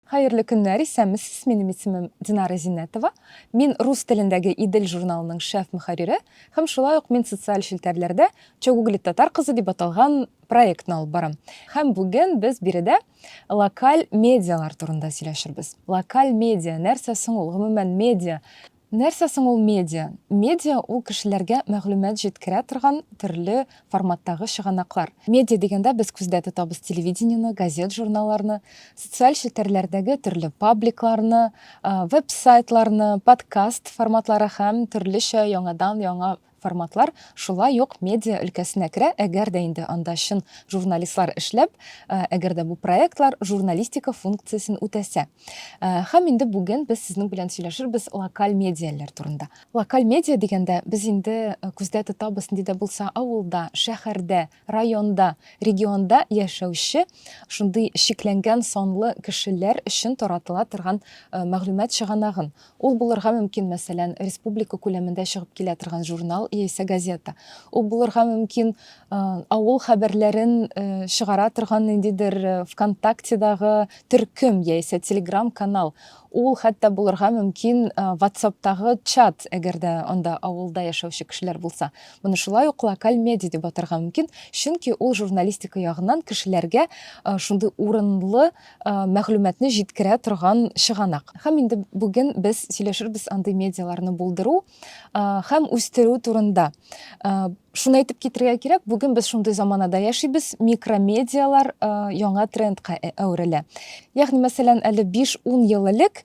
Хәерле көннәр, исәнмесез, минем исемем Динара Зиннәтова. Мин рус телендәге Идел журналының шеф мөхәррире һәм шулай ук мин социаль челтәрләрдә Чогуглит татар кызы дип аталган проектны алып барам. Һәм бүген без биредә локаль медиалар турында сөйләшербез. Локаль медиа нәрсә соң ул? Гомумән, медиа Нәрсә соң ул медиа? Медиа ул кешеләргә мәгълүмат җиткерә торган төрле форматтагы чыганаклар. Медиа дигәндә без күздә тотабыз телевидениене, газет-журналларны, социаль челтәрләрдәге төрле пабликларны, веб-сайтларны, подкаст форматлары һәм төрлечә яңадан-яңа Форматлар шулай ук медиа өлкәсенә керә, әгәр дә инде анда чын журналистлар эшләп, әгәр дә бу проектлар журналистика функциясен үтәсә. Һәм инде бүген без сезнең белән сөйләшербез локаль медиаләр турында. Локаль медиа дигәндә, без инде күздә тотабыз, нинди дә булса авылда, шәһәрдә, Районда, регионда яшәүче шундый чикләнгән санлы кешеләр өчен таратыла торган мәгълүмат чыганагын, ул булырга мөмкин, мәсәлән, республика күләмендә чыгып килә торган журнал яисә газета, ул булырга мөмкин, авыл хәбәрләрен чыгара торган ниндидер ВКонтактедагы төркем яисә Телеграм-канал, Ул хәтта булырга мөмкин ватсаптагы чат, әгәр дә анда авылда яшәүче кешеләр булса. Моны шулай ук локаль медиа дип атарга мөмкин, чөнки ул журналистика ягыннан кешеләргә шундый урынлы мәгълүматны җиткерә торган чыганак. Һәм инде бүген без сөйләшербез андый медиаларны булдыру һәм үстерү турында шуны әйтеп китерергә кирәк бүген без шундый заманада яшибез микромедиалар яңа трендка әверелә ягъни мәсәлән әле биш ун ел элек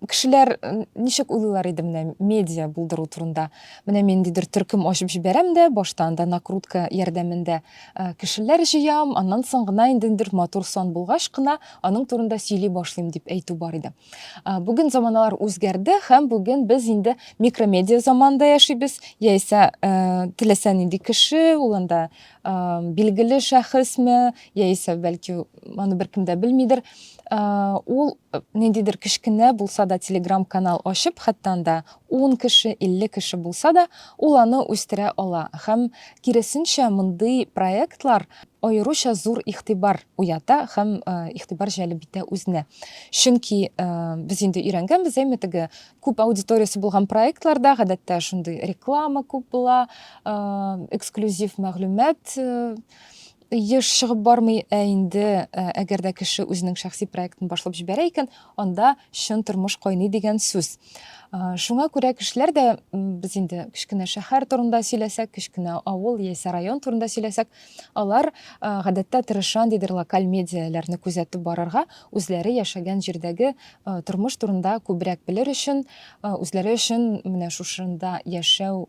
кешеләр ничек уйлыйлар иде менә медиа булдыру турында менә мин ниндидер төркем ачып җибәрәм дә башта анда накрутка ярдәмендә э, кешеләр җыям аннан соң гына инде матур сан булгач кына аның турында сөйли башлыйм дип әйтү бар иде Бүген заманалар үзгәрде һәм бүген без инде микромедиа заманында яшибез. Яисә теләсә нинди кеше, ул анда билгеле шәхесме, яисә бәлки аны беркем дә белмидер, ул ниндидер кечкенә булса да телеграм-канал ачып, хәтта анда Ун кеше, илле кеше булса да, ул аны үстерә ала һәм, киресенчә, мондый проектлар аеруча зур игътибар уята һәм игътибар җәлеп итә үзенә. Чөнки без инде өйрәнгәнбез, әйме, теге күп аудиториясе булган проектларда, гадәттә, шундый реклама күп була, эксклюзив мәгълүмат еш чыгып бармый, ә инде э, әгәр дә кеше үзенең шәхси проектын башлап җибәрә икән, анда чын тормыш кайный дигән сүз. Э, шуңа күрә кешеләр дә без инде кечкенә шәһәр турында сөйләсәк, кечкенә авыл яисә район турында сөйләсәк, алар э, гадәттә тырышан дидер локаль медиаләрне күзәтеп барырга, үзләре яшәгән җирдәге тормыш турында күбрәк белер өчен, үзләре өчен менә шушында яшәү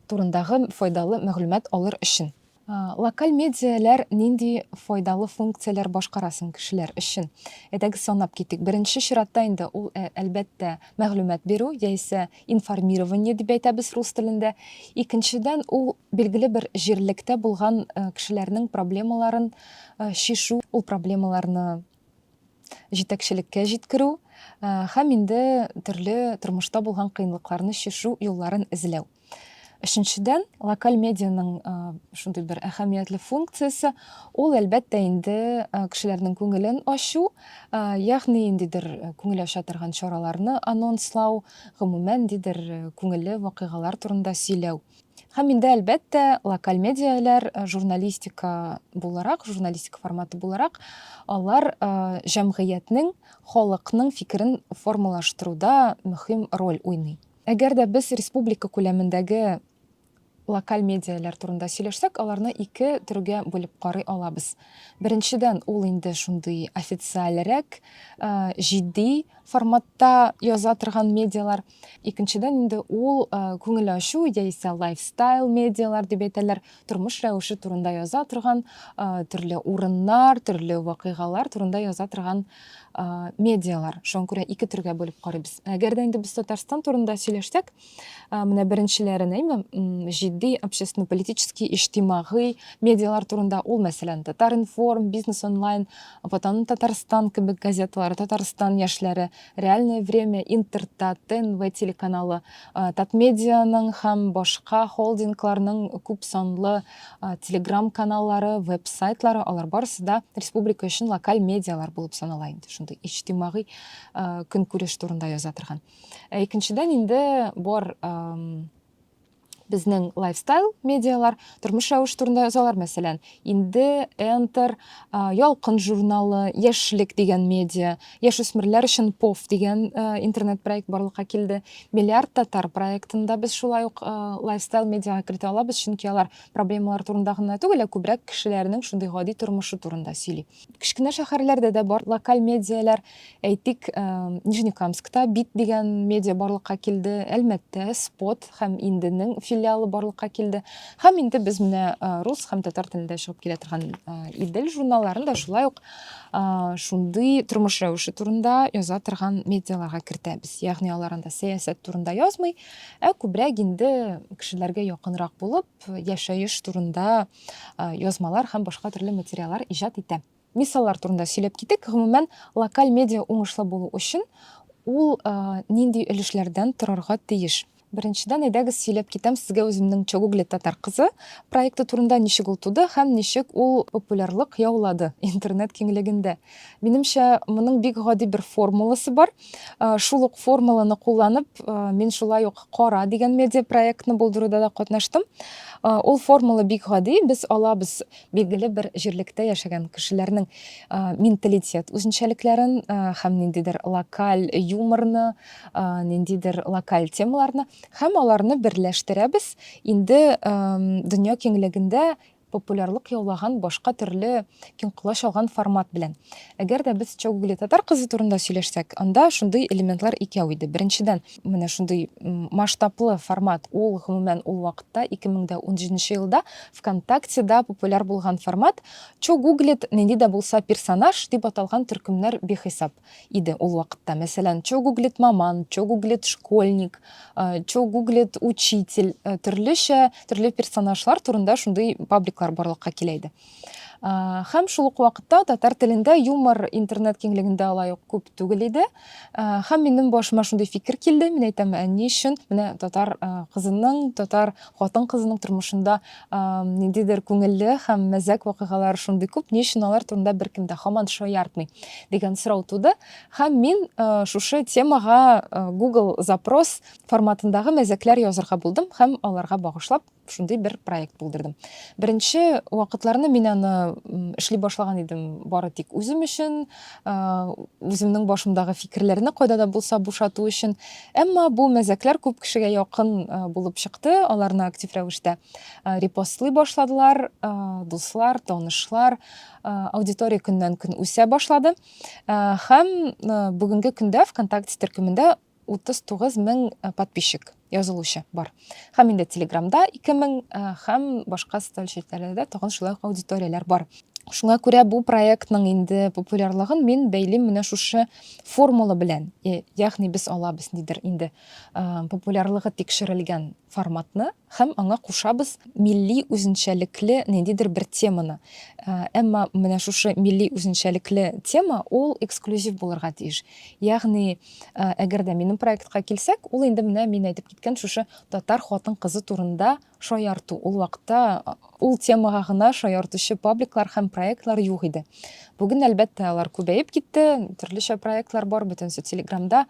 турындагы файдалы мәгълүмат алыр өчен. Локаль медиаләр нинди файдалы функцияләр башкара соң кешеләр өчен? Әйдәгез санап китик. Беренче чиратта инде ул, әлбәттә, мәгълүмат бирү, яисә информирование дип әйтәбез рус телендә. Икенчедән, ул билгеле бер җирлектә булган кешеләрнең проблемаларын чишү, ул проблемаларны җитәкчелеккә җиткерү һәм инде төрле тормышта булган кыенлыкларны чишү юлларын эзләү. Өченчедән, локаль медианың шундый бер әһәмиятле функциясе, ул әлбәттә инде кешеләрнең күңелен ачу, ягъни ниндидер күңел ача торган чараларны анонслау, гомумән, ниндидер күңелле вакыйгалар турында сөйләү. Һәм инде, әлбәттә, локаль медиаләр э, журналистика буларак, журналистика форматы буларак, алар э, җәмгыятьнең, халыкның фикерен формалаштыруда мөһим роль уйный. Әгәр дә без республика күләмендәге локаль медиаләр турында сөйләшсәк, аларны ике төргә бүлеп карый алабыз. Беренчедән, ул инде шундый официальрәк, э, җитди форматта яза торган медиалар. Икенчедән инде ул күңел ачу яисә лайфстайл медиалар дип әйтәләр, тормыш рәвеше турында яза торган, төрле урыннар, төрле вакыйгалар турында яза торган медиалар. Шуңа күрә ике төргә бүлеп карыйбыз. Әгәр дә инде без Татарстан турында сөйләшсәк, менә беренчеләрен әйме, җитди общественно-политический, иҗтимагый медиалар турында ул, мәсәлән, Татар-информ, Бизнес онлайн, Ватаным Татарстан кебек газеталар, Татарстан яшьләре, Реальное время, Интерта, ТНВ телеканалы, Татмедианың һәм башка холдингларның күп санлы телеграм каналлары, веб-сайтлары, алар барысы да республика өчен локаль медиалар булып санала инде, шундый иҗтимагый көнкүреш турында яза торган. Ә икенчедән инде бар Безнең лайфстайл медиалар тормыш рәвеш турында язалар, мәсәлән, инде Enter, Ялкын журналы, Яшьлек дигән медиа, яшүсмерләр өчен POF дигән интернет проект барлыкка килде. Миллиард татар проектында без шулай ук лайфстайл медиага кертә алабыз, чөнки алар проблемалар турында гына түгел, ә күбрәк кешеләрнең шундый гади тормышы турында сөйли. Кечкенә шәһәрләрдә дә бар локаль медиалар. Әйтик, Нижнекамскта Бит дигән медиа барлыкка килде, Әлмәттә Спот һәм Инденең филиалы барлыкка килде. Һәм инде без менә рус һәм татар телендә чыгып килә торган Идел журналларын да шулай ук шундый тормыш рәвеше турында яза торган медиаларга кертәбез. Ягъни алар анда сәясәт турында язмый, ә күбрәк инде кешеләргә якынрак булып, яшәеш турында язмалар һәм башка төрле материаллар иҗат итә. Мисаллар турында сөйләп китик. Гомумән, локаль медиа уңышлы булу өчен ул нинди өлешләрдән торырга тиеш? Беренчедән, әйдәгез сөйләп китәм сезгә үземнең Чогугли татар кызы проекты турында, ничек ул туды һәм ничек ул популярлык яулады интернет киңлегендә. Минемчә, моның бик гади бер формуласы бар. Шул ук формуланы кулланып, мин шулай ук Кара дигән медиапроектны булдыруда да катнаштым. Ул формула бик гади. Без алабыз билгеле бер җирлектә яшәгән кешеләрнең менталитет үзенчәлекләрен һәм ниндидер локаль юморны, ниндидер локаль темаларны һәм аларны берләштерәбез. Инде дөнья киңлегендә популярлык яулаган башка төрле киң колач алган формат белән. Әгәр дә без Чогугли татар кызы турында сөйләшсәк, анда шундый элементлар икәү иде. Беренчедән, менә шундый масштаблы формат, ул, гомумән, ул вакытта, 2017 нче елда ВКонтактеда популяр булган формат, Чогуглит, нинди дә булса персонаж, дип аталган төркемнәр бихисап. иде ул вакытта. Мәсәлән, чо гуглит маман, чо гуглит школьник, чо гуглит учитель, төрлечә, төрле персонажлар турында шундый пабликлар барлыкка килә иде. Хәм шул ук вакытта татар телендә юмор интернет киңлегендә алай ук күп түгел иде. Хәм минем башыма шундый фикер килде, мин әйтәм, ә ни өчен менә татар кызының, татар хатын кызының тормышында Ниндидер күңелле һәм мәзәк вакыйгалар шундый күп, ни өчен алар турында беркем дә һаман шаяртмый, дигән сорау туды, һәм мин шушы темага Google запрос форматындагы мәзәкләр язырга булдым һәм аларга багышлап шундый бер проект булдырдым. Беренче вакытларны мин аны эшли башлаган идем бары тик үзем өчен, үземнең башымдагы фикерләрне кайда да булса бушату өчен. Әмма бу мәзәкләр күп кешегә якын булып чыкты, аларны актив рәвештә репостлый башладылар, дуслар, танышлар, аудитория көннән-көн үсә башлады. Һәм бүгенге көндә ВКонтакте төркемендә 39 мең подписчик язылучы бар һәм инде телеграмда 2 мең һәм башка социаль челтәрләрдә тагын шулай ук аудиторияләр бар шуңа күрә бу проектның инде популярлыгын мин бәйлим менә шушы формула белән ягъни без алабыз нидер инде популярлыгы тикшерелгән форматны Һәм аңа кушабыз милли үзенчәлекле ниндидер бер теманы. Әмма менә шушы милли үзенчәлекле тема, ул эксклюзив булырга тиеш. Ягъни, әгәр дә минем проектка килсәк, ул инде менә мин әйтеп киткән шушы татар хатын-кызы турында шаярту. Ул вакытта Ул темага гына шаяртучы пабликлар һәм проектлар юк иде. Бүген, әлбәттә, алар күбәеп китте, төрлечә проектлар бар, бөтенесе Телеграмда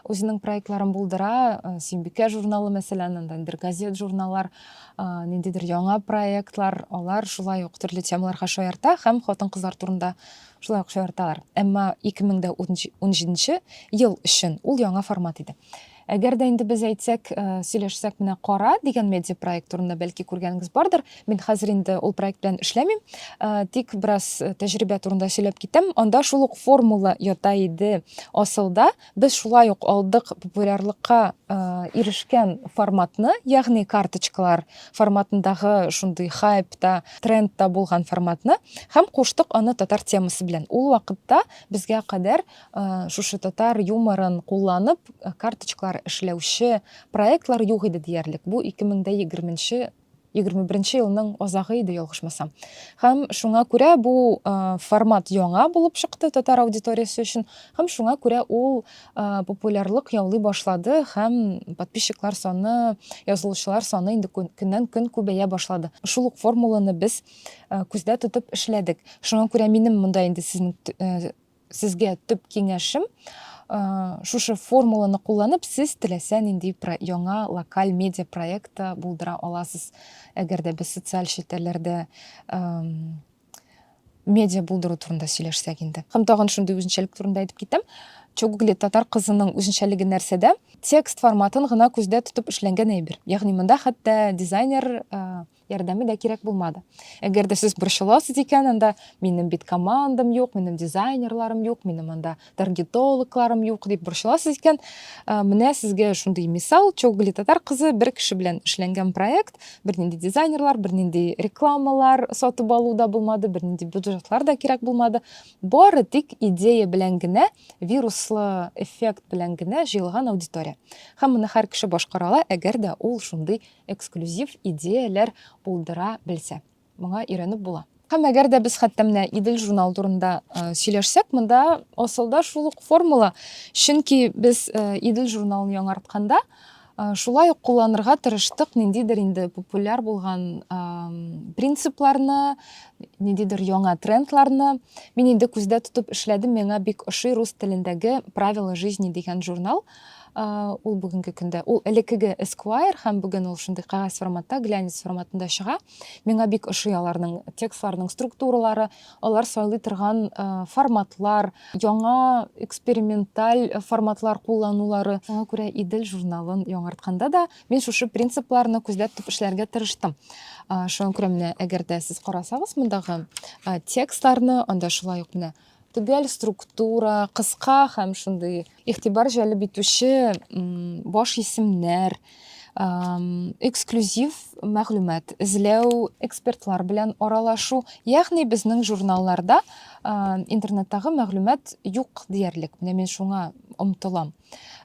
үзенең проектларын булдыра. Э, Синбикә журналы, мәсәлән, анда бер газет, журналлар, э, ниндидер яңа проектлар, алар шулай ук төрле темаларга шаярта һәм хатын-кызлар турында шулай ук шаярталар. Әмма 2017 ел өчен ул яңа формат иде. Әгәр дә инде без әйтсәк, э, сөйләшсәк, менә кара дигән медиапроект турында бәлки күргәнегез бардыр. Мин хәзер инде ул проект белән эшләмим, э, тик бераз э, тәҗрибә турында сөйләп китәм. Анда шул ук формула ята иде асылда. Без шулай ук алдык популярлыкка ирешкән форматны, ягъни карточкалар форматындагы шундый хайп та, тренд та булган форматны һәм куштык аны татар темасы белән. Ул вакытта безгә кадәр Э, шушы татар юморын кулланып э, карточкалар эшләүче проектлар юк иде диярлек бу 2021 21 елның азагы иде ялгышмасам һәм шуңа күрә бу э, формат яңа булып чыкты татар аудиториясе өчен һәм шуңа күрә ул популярлык яулый башлады һәм подписчиклар саны язылучылар саны инде көннән көн күбәя башлады шул ук формуланы без күздә тотып эшләдек шуңа күрә минем монда инде сезнең Сезгә төп киңәшем, э, шушы формуланы кулланып, сез теләсә нинди про- яңа локаль медиа проект та булдыра аласыз. Әгәр дә без социаль челтәрләрдә эм, медиа булдыру турында сөйләшсәк инде. Һәм тагын шундый үзенчәлек турында әйтеп китәм. Чогугли татар кызының үзенчәлеге нәрсәдә? Текст форматын гына күздә тотып эшләнгән әйбер. Ягъни монда хәтта дизайнер э, ярдәме дә кирәк булмады. Әгәр дә сез борчыласыз икән, анда минем бит командам юк, минем дизайнерларым юк, минем анда таргетологларым юк дип борчыласыз икән, э, менә сезгә шундый мисал, Чоглы татар кызы бер кеше белән эшләнгән проект, бернинди дизайнерлар, бернинди рекламалар сатып алу да булмады, бернинди бюджетлар да кирәк булмады. Бары тик идея белән генә, вируслы эффект белән генә җыелган аудитория. Һәм моны һәр кеше башкара ала, әгәр дә ул шундый эксклюзив идеяләр булдыра белсә. Моңа өйрәнеп була. Һәм әгәр дә без хәтта менә Идел журнал турында сөйләшсәк, монда асылда шул ук формула. Чөнки без Идел журналын яңартканда шулай ук кулланырга тырыштык ниндидер инде популяр булган принципларны, ниндидер яңа трендларны. Мин инде күздә тотып эшләдем, миңа бик ошый рус телендәге Правила жизни дигән журнал. ул бүгенге көндә ул элеккеге Esquire һәм бүген ул шундый кәгазь форматта, глянец форматында чыга. Миңа бик ошый аларның текстларның структуралары, алар сайлый торган форматлар, яңа эксперименталь форматлар кулланулары. Шуңа күрә Идел журналын яңартканда да мин шушы принципларны күзләп тотып эшләргә тырыштым. Шуңа күрә менә әгәр дә сез карасагыз мондагы текстларны, анда шулай ук менә Төгәл структура, кыска һәм шундый игътибар җәлеп итүче баш исемнәр, эксклюзив мәгълүмат эзләү, экспертлар белән аралашу. Ягъни безнең журналларда интернеттагы мәгълүмат юк диярлек. Менә мин шуңа омтылам.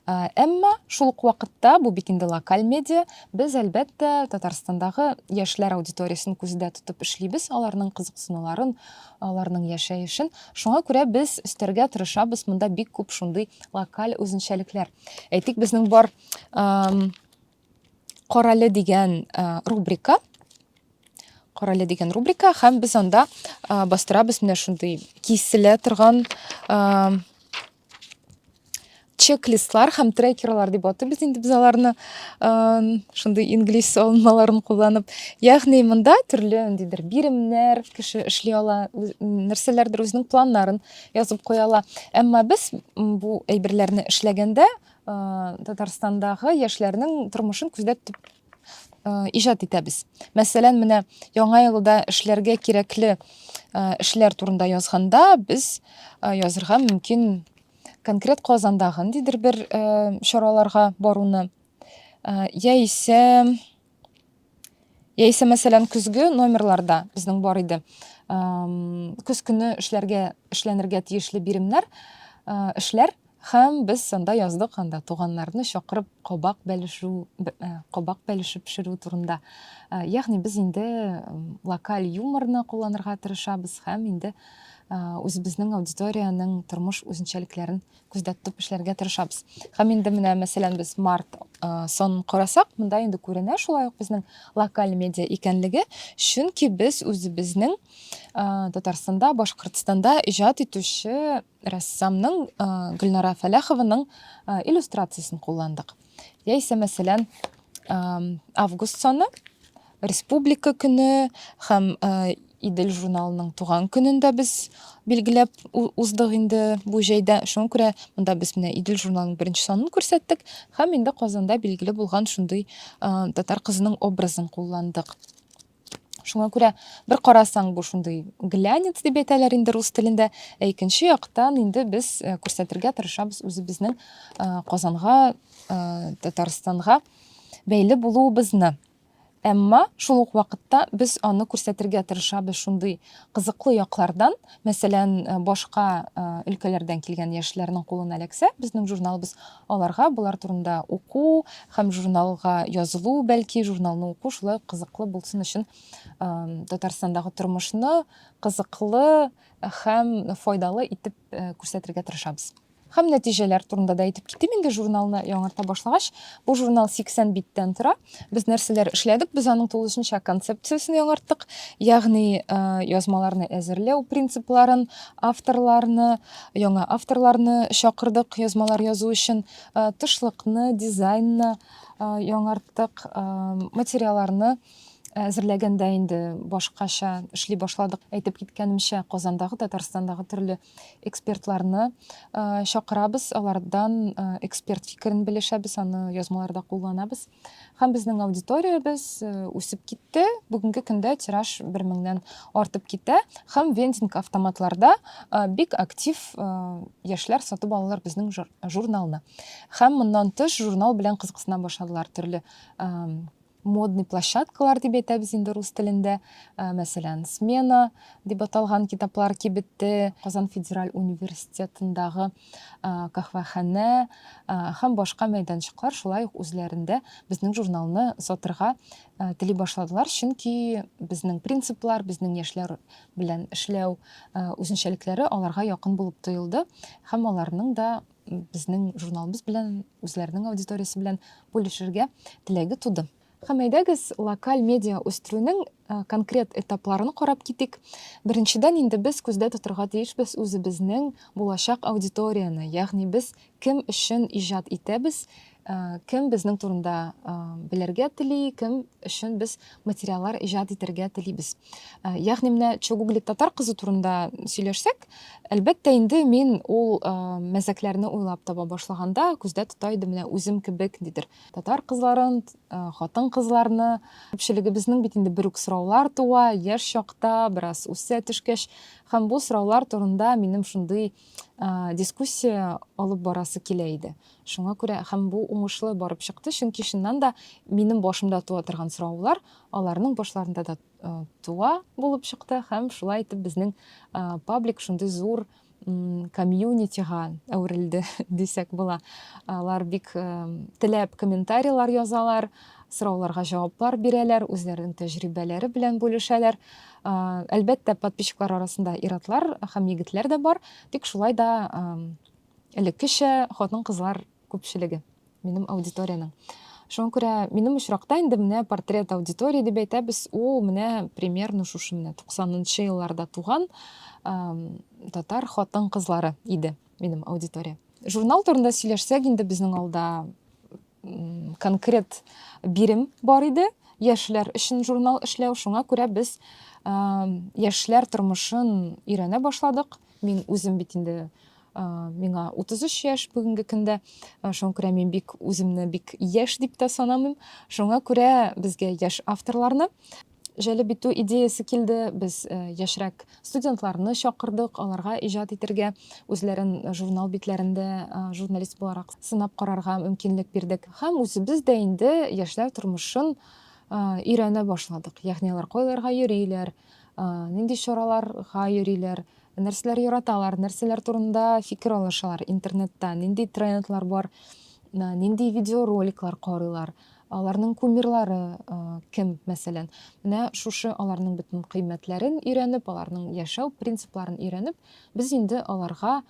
Ә, Әмма шул ук вакытта, бу бит инде локаль медиа, без, әлбәттә, Татарстандагы яшьләр аудиториясен күздә тотып эшлибез, аларның кызыксынуларын, аларның яшәешен. Шуңа күрә без өстәргә тырышабыз, монда бик күп шундый локаль үзенчәлекләр. Әйтик, безнең бар ам, Карале дигән а, рубрика, Карале дигән рубрика, һәм без анда а, бастырабыз менә шундый киселә торган ам, чек-листлар һәм трекерлар дип атыйбыз инде без аларны шундый инглиз алынмаларын кулланып ягъни монда төрле ниндидер биремнәр кеше эшли ала нәрсәләрдер үзенең планнарын язып куя ала әмма без бу әйберләрне эшләгәндә татарстандағы яшьләрнең тормышын күздә тотып иҗат итәбез. Мәсәлән, менә яңа елда эшләргә кирәкле эшләр турында язганда, без язырга мөмкин конкрет Казандагы ниндидер бер чараларга баруны, яисә яисә мәсәлән көзге номерларда безнең бар иде көз көне эшләргә эшләнергә тиешле биремнәр эшләр Һәм без санда яздык анда туганнарны чакырып кабак бәлешү, кабак бәлешеп пешерү турында. Ягъни без инде локаль юморны кулланырга тырышабыз һәм инде үзебезнең аудиториянең тормыш үзенчәлекләрен күздә тотып эшләргә тырышабыз. Һәм инде менә мәсәлән без март сон карасак, монда инде күренә шулай ук безнең локаль медиа икәнлеге, чөнки без үзебезнең Татарстанда, Башкортстанда иҗат итүче рәссамның Гөлнара Фәләхованың иллюстрациясен кулландык. Яисә, мәсәлән, август саны республика көне һәм Идел журналының туган көнен дә без билгеләп уздык инде бу җәйдә. Шуңа күрә монда без менә Идел журналының беренче санын күрсәттек һәм инде Казанда билгеле булган шундый татар кызының образын кулландык. Шуңа күрә бер карасаң бу шундый глянец дип әйтәләр инде рус телендә, ә икенче яктан инде без э, күрсәтергә тырышабыз үзебезнең э, Казанга, э, Татарстанга бәйле булуыбызны. Әмма шул ук вакытта без аны күрсәтергә тырышабыз шундый кызыклы яклардан, мәсәлән, башка өлкәләрдән килгән яшьләрнең кулына эләксә, безнең журналыбыз Аларга болар турында уку һәм журналга язылу, бәлки, журналны уку шулай ук кызыклы булсын өчен Татарстандагы тормышны кызыклы һәм файдалы итеп күрсәтергә тырышабыз. Һәм нәтиҗәләр турында да әйтеп китим инде журналны яңарта башлагач. Бу журнал 80 биттән тора. Без нәрсәләр эшләдек? Без аның тулысынча концепциясен яңарттык, ягъни э, язмаларны әзерләү принципларын, авторларны, яңа авторларны чакырдык язмалар язу өчен, э, тышлыкны, дизайнны э, яңарттык, материалларны әзерләгәндә инде башкача эшли башладык. Әйтеп киткәнемчә, Казандагы, Татарстандагы төрле экспертларны чакырабыз, алардан эксперт фикерен белешәбез, аны язмаларда кулланабыз. Һәм безнең аудиториябез үсеп китте. Бүгенге көндә тираж 1000-нән артып китә һәм вендинг автоматларда бик актив яшьләр сатып алалар безнең журналны. Һәм моннан тыш журнал белән кызыксына башладылар төрле модный площадкалар дип әйтәбез инде рус телендә. Э, мәсәлән, смена дип аталган китаплар кибете, Казан федераль университетындагы э, каһвәханә э, һәм башка мәйданчыклар шулай ук үзләрендә безнең журналны сатырга тели башладылар, чөнки безнең принциплар, безнең яшьләр белән эшләү үзенчәлекләре аларга якын булып тоелды һәм аларның да безнең журналыбыз белән, үзләренең аудиториясе белән бүлешергә теләге туды. Һәм әйдәгез, локаль медиа үстерүнең э, конкрет этапларын карап китик. Беренчедән инде без күздә тотырга тиешбез үзебезнең булачак аудиторияне, ягъни без кем өчен иҗат итәбез, Э, кем безнең турында э, белергә тели кем өчен без материаллар иҗат итәргә телибез э, ягъни менә чугуглик татар кызы турында сөйләшсәк әлбәттә инде мин ул мәзәкләрне уйлап таба башлаганда күздә тота идем менә үзем кебек дидер татар кызларын хатын кызларны күпчелегебезнең бит инде бер үк сораулар туа яшь чакта бераз үсә төшкәч һәм бу сораулар турында минем шундый дискуссия алып барасы килә иде Шуңа күрә һәм бу уңышлы барып чыкты, чөнки чыннан да минем башымда туа торган сораулар аларның башларында да туа булып чыкты һәм шулай итеп безнең паблик шундый зур комьюнитига әверелде дисәк була. Алар бик теләп комментарийлар язалар, сорауларга җаваплар бирәләр, үзләренең тәҗрибәләре белән бүлешәләр. Әлбәттә, подписчиклар арасында иратлар һәм егетләр дә бар, тик шулай да элеккечә хатын-кызлар күпчелеге минем аудиториянең. Шуңа күрә минем очракта инде менә портрет аудитории дип әйтәбез, ул менә примерно шушы менә 90-нчы елларда туган татар хатын-кызлары иде минем аудитория. Журнал турында сөйләшсәк, инде безнең алда конкрет бирем бар иде, яшьләр өчен журнал эшләү. Шуңа күрә без яшьләр тормышын өйрәнә башладык. Мин үзем бит инде миңа 33 яшь бүгенге көндә. Шуңа күрә мин бик үземне бик яшь дип тә санамыйм. Шуңа күрә безгә яшь авторларны җәлеп итү идеясе килде. Без яшьрәк студентларны чакырдык, аларга иҗат итергә, үзләрен журнал битләрендә журналист буларак сынап карарга мөмкинлек бирдек. Һәм үзебез дә инде яшьләр тормышын өйрәнә башладык. Ягъни алар кайларга йөриләр, нинди чараларга йөриләр, нәрсәләр яраталар, нәрсәләр турында фикер алышалар интернетта, нинди трендлар бар, нинди видеороликлар карыйлар, аларның кумирлары кем, мәсәлән. Менә шушы аларның бөтен кыйммәтләрен өйрәнеп, аларның яшәү принципларын өйрәнеп, без инде аларга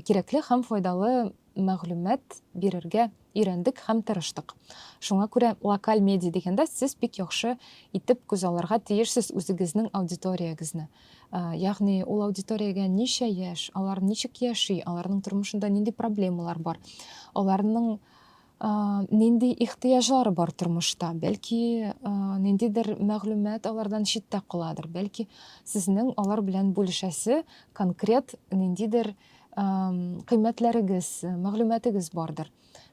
кирәкле һәм файдалы мәгълүмат бирергә өйрәндек һәм тырыштык. Шуңа күрә локаль медиа дигәндә сез бик яхшы итеп күзалларга тиешсез үзегезнең аудиториягезне. Ягъни ул аудиториягә ничә яшь, алар ничек яши, аларның тормышында нинди проблемалар бар, аларның нинди ихтыяҗлары бар тормышта, бәлки ниндидер мәгълүмат алардан читтә каладыр, бәлки сезнең алар белән бүлешәсе конкрет ниндидер кыйммәтләрегез, мәгълүматыгыз бардыр.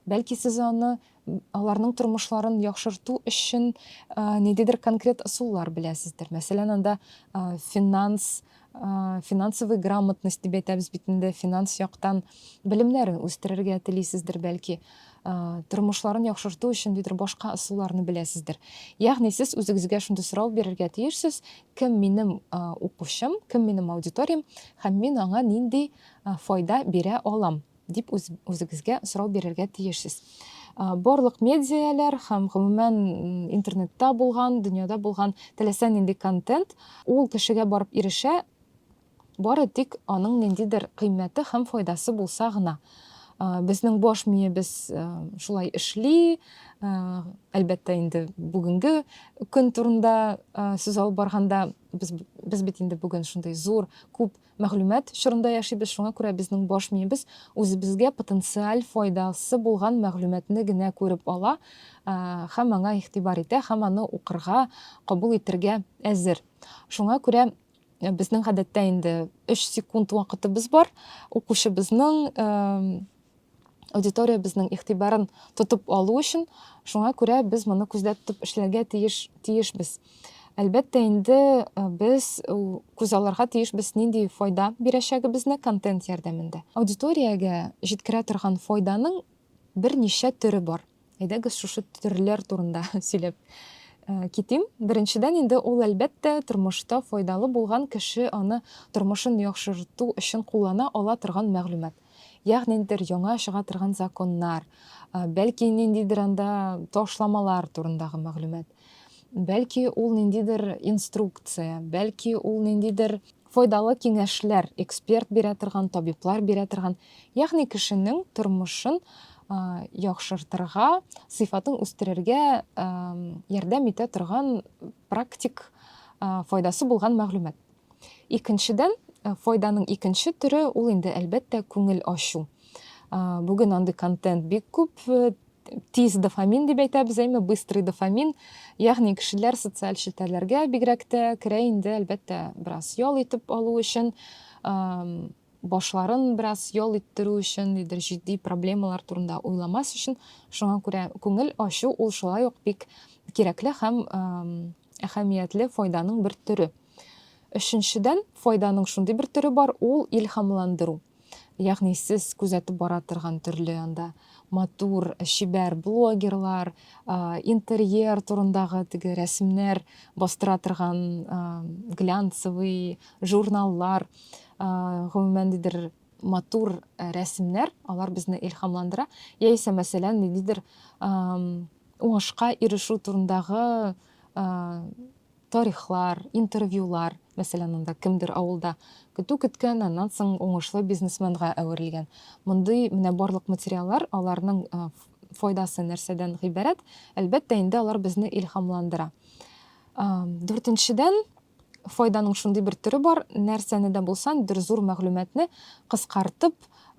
Бәлки сез аны аларның тормышларын яхшырту өчен ниндидер конкрет ысуллар беләсездер. Мәсәлән, анда финанс финансовый грамотность дип әйтәбез бит инде, финанс яктан белемнәрен үстерергә телисездер бәлки, тормышларын яхшырту өчен дидер башка ысулларны беләсездер. Ягъни сез үзегезгә шундый сорау бирергә тиешсез, Кем минем укучым, кем минем аудиториям һәм мин аңа нинди файда бирә алам, дип үзегезгә сорау бирергә тиешсез. Барлык медиалар һәм гомумән интернетта булган, дөньяда булган теләсә нинди контент ул кешегә барып ирешә Бары тик аның ниндидер кыйммәте һәм файдасы булса гына. Безнең баш миебез шулай эшли. Әлбәттә, инде бүгенге көн турында сүз алып барганда, без, без бит инде бүген шундый зур, күп мәгълүмат чорында яшибез, шуңа күрә безнең баш миебез үзебезгә потенциаль файдасы булган мәгълүматны генә күреп ала һәм аңа игътибар итә һәм аны укырга, кабул итергә әзер. Шуңа күрә безнең гадәттә инде 3 секунд вакытыбыз бар укучыбызның аудитория безнең игътибарын тотып алу өчен шуңа күрә без моны күздә тотып эшләргә тиеш тиешбез әлбәттә инде без күз алырга тиешбез нинди файда бирәчәгебезне контент ярдәмендә аудиториягә җиткерә торган файданың берничә төре бар. Әйдәгез шушы төрләр турында сөйләп э, китим. Беренчедән инде ул әлбәттә тормышта файдалы булган кеше аны тормышын яхшырту өчен куллана ала торган мәгълүмат. Ягъни ниндидер яңа чыга торган законнар, э, бәлки ниндидер анда ташламалар турындагы мәгълүмат. Бәлки ул ниндидер инструкция, бәлки ул ниндидер файдалы киңәшләр, эксперт бирә торган, табиблар бирә торган, ягъни кешенең тормышын яхшыртырга, сыйфатын үстерергә ярдәм итә торган практик файдасы булган мәгълүмат. Икенчедән, э, файданың икенче төре ул инде әлбәттә күңел ачу. Бүген андый контент бик күп, э, тиз дофамин дип әйтәбез, әйме быстрый дофамин. Ягъни кешеләр социаль челтәрләргә бигрәк тә керә инде, әлбәттә, бераз ял итеп алу өчен. башларын бераз ял иттерү өчен, нидер җитди проблемалар турында уйламас өчен, шуңа күрә күңел ачу ул шулай ук бик кирәкле һәм әһәмиятле файданың бер төре. Өченчедән, файданың шундый бер төре бар, ул илһамландыру. Ягъни сез күзәтеп бара торган төрле анда матур, чибәр блогерлар, интерьер турындагы теге рәсемнәр бастыра торган глянцевый журналлар, гомумән, дидер матур рәсемнәр, алар безне илхамландыра, яисә, мәсәлән, ниндидер уңышка ирешү турындагы тарихлар, интервьюлар, мәсәлән, анда кемдер авылда көтү көткән, аннан соң уңышлы бизнесменга әверелгән. Мондый менә барлык материаллар, аларның файдасы нәрсәдән гыйбарәт? Әлбәттә, инде алар безне илхамландыра. Дүртенчедән, Файданың шундый бер төре бар, нәрсәне дә булсан, бер зур мәгълүматны кыскартып,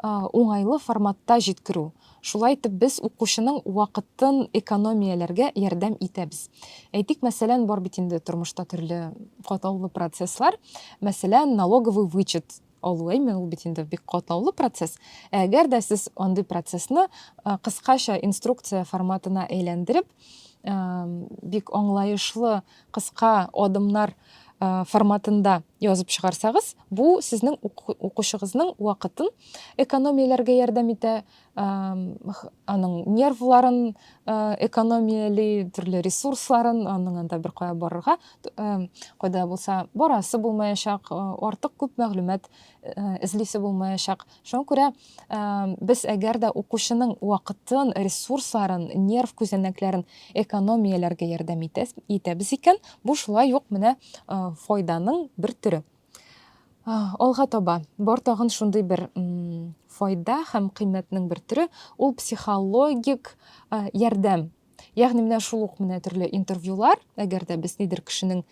уңайлы форматта җиткерү. Шулай итеп, без укучының вакытын экономияләргә ярдәм итәбез. Әйтик, мәсәлән, бар бит инде тормышта төрле катлаулы процесслар. Мәсәлән, налоговый вычет Алуэмен ул бит инде бик катлаулы процесс. Әгәр дә сез андый процессны кыскача инструкция форматына әйләндереп, бик аңлаешлы кыска адымнар форматында язып чыгарсагыз, бу сезнең укучыгызның вакытын экономияләргә ярдәм итә, аның нервларын экономияли төрле ресурсларын аның анда бер кая барырга кайда булса барасы булмаячак артык күп мәгълүмат эзлисе булмаячак шуңа күрә без әгәр дә укучының вакытын ресурсларын нерв күзәнәкләрен экономияләргә ярдәм итәбез икән бу шулай ук менә файданың бер төре Алга таба бар тагын шундый бер файда һәм кыйммәтнең бер төре, ул психологик ярдәм. Ягъни менә шул ук менә төрле интервьюлар, әгәр дә без нидер кешенең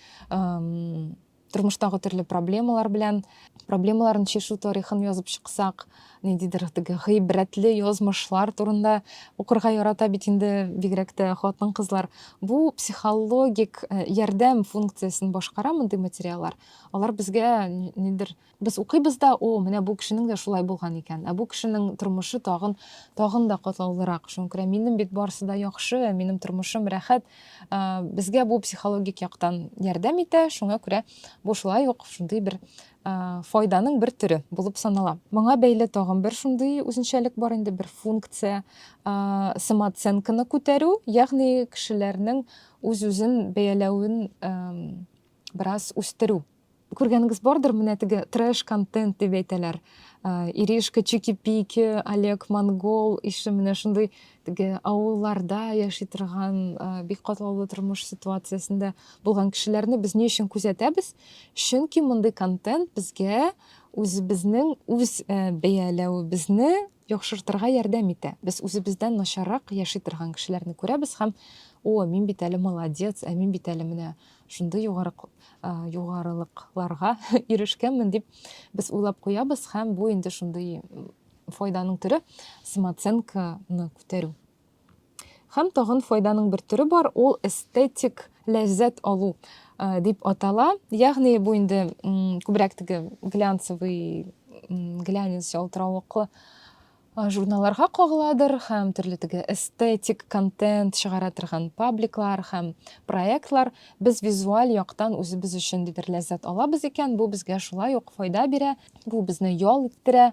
тормыштагы төрле проблемалар белән проблемаларын шешу тарихын язып чыксак ниндидер теге гыйбрәтле язмышлар турында укырга ярата бит инде бигрәк тә хатын-кызлар. Бу психологик э, ярдәм функциясен башкара мондый материаллар. Алар безгә нидер без укыйбыз да, о, менә бу кешенең дә шулай булган икән. Ә бу кешенең тормышы тагын тагын да катлаулырак. Шуңа күрә минем бит барысы да яхшы, минем тормышым рәхәт. Э, безгә бу психологик яктан ярдәм итә. Шуңа күрә бу шулай ук шундый бер файданың бер төре булып санала. Моңа бәйле тагын бер шундый үзенчәлек бар инде, бер функция, самооценканы күтәрү, ягъни кешеләрнең үз-үзен бәяләвен бераз үстерү. Күргәнегез бардыр, менә теге трэш-контент дип әйтәләр. Иришка, Чики-пики, Олег Монгол ише менә шундый теге авылларда яши торган бик катлаулы тормыш ситуациясендә булган кешеләрне без ни өчен күзәтәбез? Чөнки мондый контент безгә үзебезнең үз бәяләвебезне яхшыртырга ярдәм итә. Без үзебездән начаррак яши торган кешеләрне күрәбез һәм о, мин бит әле молодец, ә мин бит әле менә шундый югары югарылыкларга ирешкәнмен дип без уйлап куябыз һәм бу инде шундый файданың төре самооценканы күтәрү һәм тагын файданың бер төре бар ул эстетик ләззәт алу э, дип атала ягъни бу инде күбрәк теге глянцевый глянец ялтыравыклы э, журналларга кагыладыр һәм төрле теге эстетик контент чыгара торган пабликлар һәм проектлар без визуаль яктан үзебез өчен дидер ләззәт алабыз икән бу безгә шулай ук файда бирә бу безне ял иттерә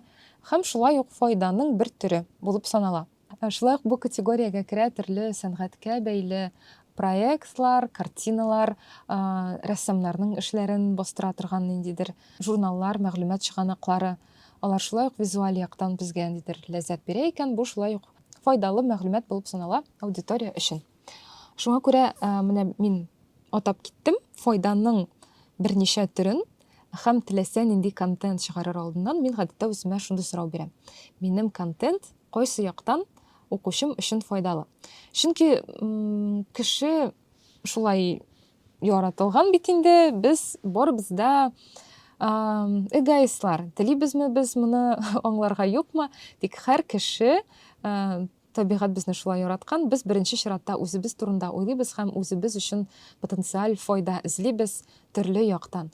Һәм шулай ук файданың бер төре булып санала. Шулай ук бу категориягә керә төрле сәнгатькә бәйле проектлар, картиналар, рәссамнарның эшләрен бастыра торган ниндидер журналлар, мәгълүмат чыганаклары. Алар шулай ук визуаль яктан безгә ниндидер ләззәт бирә икән, бу шулай ук файдалы мәгълүмат булып санала аудитория өчен. Шуңа күрә менә мин атап киттем файданың берничә төрен. Һәм теләсә нинди контент чыгарыр алдыннан мин гадәттә үземә шундый сорау бирәм, минем контент кайсы яктан укучым өчен файдалы? Чөнки кеше шулай яратылган бит инде, без барыбыз да эгоистлар. Телибезме без моны аңларга юкмы? Тик һәр кеше Табигать безне шулай яраткан, без беренче чиратта үзебез турында уйлыйбыз һәм үзебез өчен потенциаль файда эзлибез төрле яктан.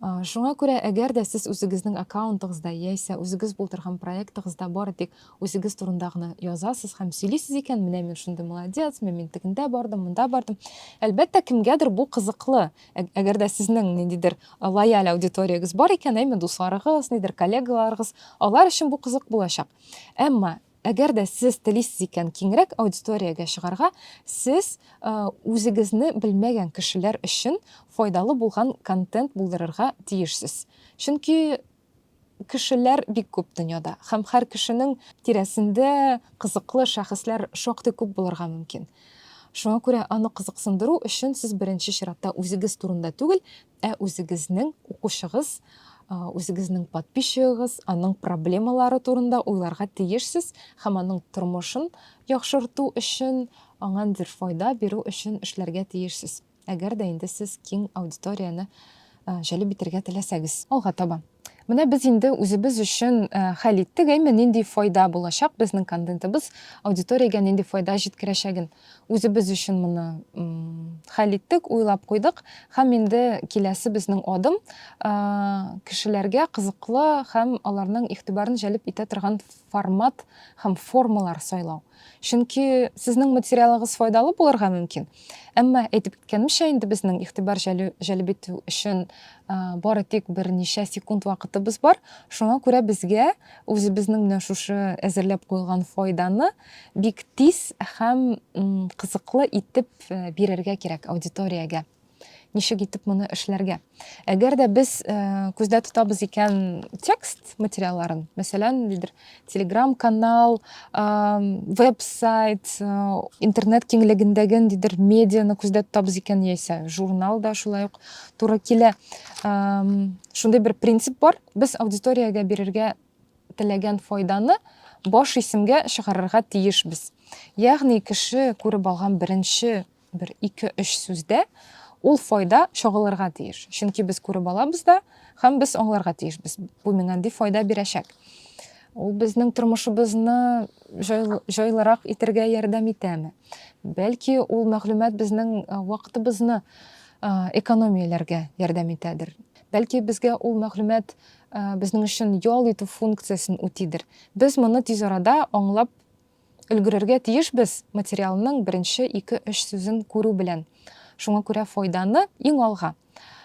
Шуңа күрә, әгәр дә сез үзегезнең аккаунтыгызда яисә үзегез булдырган проектыгызда бары тик үзегез турында гына язасыз һәм сөйлисез икән, менә мин шундый молодец, менә мин тегендә бардым, монда бардым. Әлбәттә, кемгәдер бу кызыклы. Әгәр дә сезнең ниндидер лояль аудиториягез бар икән, әйме дусларыгыз, нидер коллегаларыгыз, алар өчен бу кызык булачак. Әмма Әгәр дә сез телисез икән киңрәк аудиториягә чыгарга, сез үзегезне белмәгән кешеләр өчен файдалы булган контент булдырырга тиешсез. Чөнки кешеләр бик күп дөньяда һәм һәр кешенең тирәсендә кызыклы шәхесләр шактый күп булырга мөмкин. Шуңа күрә аны кызыксындыру өчен сез беренче чиратта үзегез турында түгел, Ә үзегезнең укучыгыз, үзегезнең подписчигыгыз, аның проблемалары турында уйларга тиешсез һәм аның тормышын яхшырту өчен, аңа ниндидер файда бирү өчен эшләргә тиешсез. Әгәр дә инде сез киң аудиторияне җәлеп итәргә теләсәгез. Алга таба. Менә без инде үзебез өчен хәл иттек, әйме, нинди файда булачак безнең контентыбыз аудиториягә нинди файда җиткерәчәген. Үзебез өчен моны хәл иттек, уйлап куйдык һәм инде киләсе безнең адым кешеләргә кызыклы һәм аларның игътибарын җәлеп итә торган формат һәм формалар сайлау. Чөнки сезнең материалыгыз файдалы булырга мөмкин. Әмма әйтеп киткәнемчә, инде безнең игътибар җәлеп итү өчен бары тик берничә секунд вакытыбыз бар. Шуңа күрә безгә үзебезнең менә шушы әзерләп куелган файданы Бик тиз һәм кызыклы итеп бирергә кирәк аудиториягә. Ничек итеп моны эшләргә? Әгәр дә без күздә тотабыз икән текст материалларын, мәсәлән, нидер Telegram канал, веб-сайт, интернет киңлегендәге нидер медианы күздә тотабыз икән яисә журнал да шулай ук туры килә. Шундый бер принцип бар. Без аудиториягә бирергә теләгән файданы баш исемгә чыгарырга тиешбез. Ягъни кеше күреп алган беренче бер ике-өч сүздә ул файда чагылырга тиеш. Чөнки без күреп алабыз да һәм без аңларга тиешбез. Бу миңа ди файда бирәчәк. Ул безнең тормышыбызны җайлырак итәргә ярдәм итәме? Бәлки ул мәгълүмат безнең вакытыбызны экономияләргә ярдәм итәдер. Бәлки безгә ул мәгълүмат э, безнең өчен ял итү функциясен үтидер. Без моны тиз арада аңлап өлгерергә тиешбез материалның беренче ике өч сүзен күрү белән. Шуңа күрә файданы иң алга.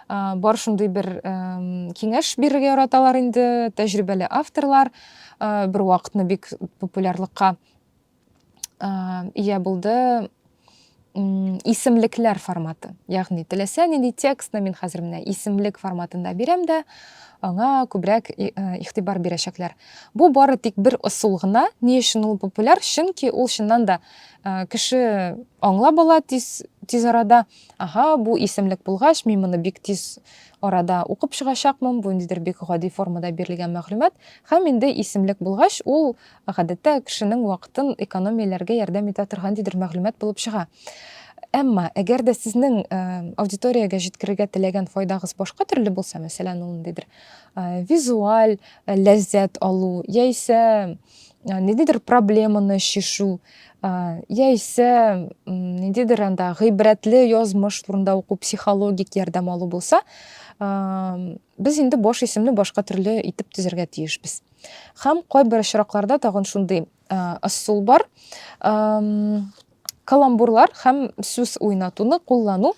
Э, бар шундый бер киңәш бирергә яраталар инде тәҗрибәле авторлар. Э, бер вакытны бик популярлыкка ия булды исемлекләр форматы ягъни теләсә нинди текстны мин хәзер менә исемлек форматында бирәм дә аңа күбрәк э, игътибар бирәчәкләр бу бары тик бер ысул гына ни өчен ул популяр чөнки ул чыннан да э, кеше аңлап ала тиз тиз арада ага бу исемлек булгач мин моны бик тиз арада укып чыгачакмын бу ниндидер бик гади формада бирелгән мәгълүмат һәм инде исемлек булгач ул Гадәттә, кешенең вакытын экономияләргә ярдәм итә торган дидер мәгълүмат булып чыга. Әмма, әгәр дә сезнең аудиториягә җиткерергә теләгән файдагыз башка төрле булса, мәсәлән, ул ниндидер визуаль ләззәт алу, яисә ниндидер проблеманы чишү, яисә ниндидер анда гыйбрәтле язмыш турында уку, психологик ярдәм алу булса, без инде баш исемне башка төрле итеп төзергә тиешбез. Хәм кайбер очракларда тагын шундый ысул бар. Каламбурлар хәм сүз уйнатуны куллану